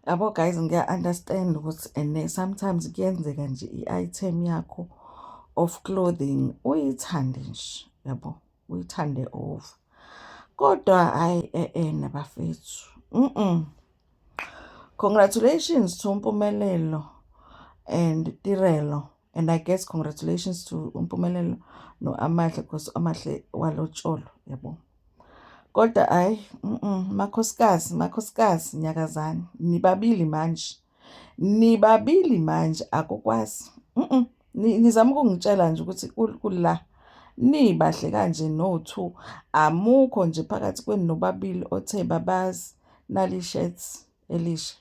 yabo guys ngiya-understand ukuthi and eh, sometimes kuyenzeka nje i-item yakho of clothing uyithande nje yabo uyithande over kodwa hhayi e-e nabafethu mm congratulations to mpumelelo and tirelo And I guess congratulations to uMpumelelo no-Amahle because Amahle walotsholwa yabo. Kodwa hayi makhosikazi makhosikazi nyakazani nibabili manje nibabili manje akukwazi nizama ukungitshela nje ukuthi kula nibahle kanje no-two amukho nje phakathi kwenu nobabili othe babazi nali-shirts elisha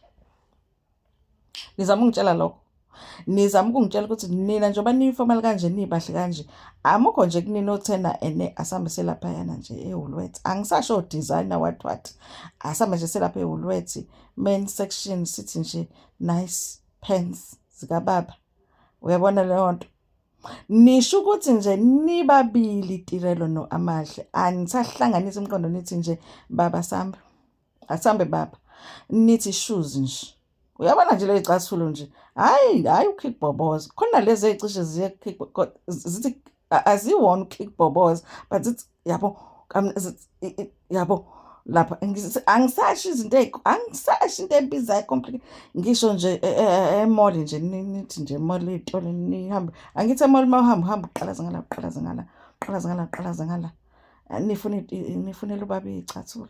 nizama ungitshela lokho nizama ukungitshela ukuthi nina njengoba niyifomali kanje niyibahle kanje amukho nje kunina othena ene asambe selaphayana nje ewulwethi angisasho designer what what asambe nje selapha ewulwethi main section sithi nje nice pants zikababa uyabona leyo nto nisho ukuthi nje nibabili tirelo no amahle anisahlanganisa umqondo nithi nje baba sambe Asambe baba. Nithi shoes nje. Uyabona nje le icasulo nje. Hayi, hayi ukick boboza. Khona lezi ecishe ziye kick zithi aziwona ukick boboza, but it's yabo yabo lapha angisashi izinto angisashi into ebizayo complicate ngisho nje e, e, e, emall nje nithi nje emall itolo nihambe angithi emall uma uhamba uhamba uqalaza ngala uqalaza ngala uqalaza ngala uqalaza ngala nifunela ubaba iy'cathulo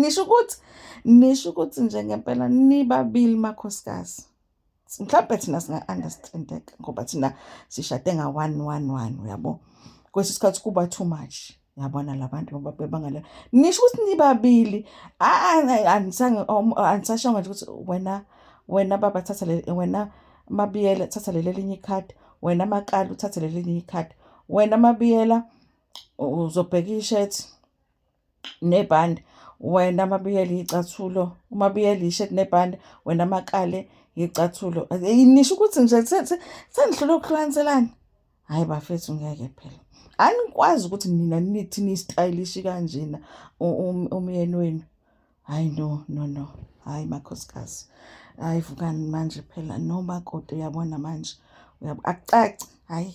nisho ukuthi nisho ukuthi nje ngempela nibabili makhosikazi mhlawumbe thina singa-understandeka ngoba thina sishade nga-one one one uyabo kwesinye isikhathi kuba too much yabona labantu ngoba bebangale nisho ukuthi nibabili anisashonga nje ukuthi wena wena baba thatha le wena mabiyela thatha leli elinye ikhadi wena makala uthathe leli elinye ikhadi wena mabiyela uzobheka i-shirt nebhande wena mabiyeli yicathulo uma biyeli yi-shirt nebhande wena makale yicathulo nisho ukuthi nje sengihlule ukuhlukaniselana hhayi bafethu ngeke phela anikwazi ukuthi nina nithi nistayilishi kanjena umyeni wenu hhayi no no no hhayi makhosikazi hhayi vukani manje phela nomakoti uyabona manje akucaci hhayi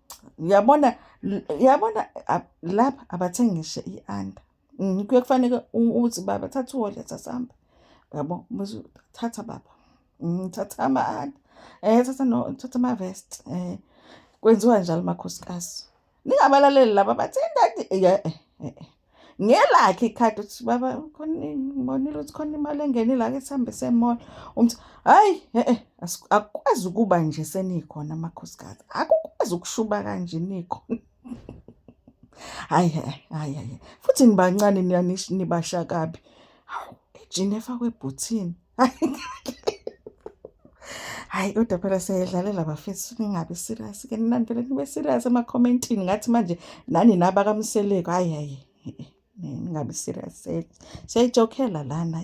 uyabona uyabona lapha abathengi ngisho i-under mm, kuye kufaneke uthi baba thatha uwole sasihamba yabo bese thatha baba mm, thatha ama-under um eh, thatha thatha ama-vest um eh, kwenziwa njalo makhosikazi ningabalaleli laba bathi indadi eh, ngelakhe ikhadi ukuthi baba ngibonile ukuthi khona imali engenile ake sihambe semall umthi hayi e-e akukwazi ukuba nje senikhona amakhosikazi akukwazi ukushuba kanje nikhona hayi hayi hayi futhi nibancane nibasha kabi hawu ejini efakwe ebhuthini hayi kodwa phela siyayidlalela bafethu ningabi serious ke nani phela nibe serious emakhomentini ngathi manje nani naba kamseleko hayi hayi ningabi serious siyayijokhela lana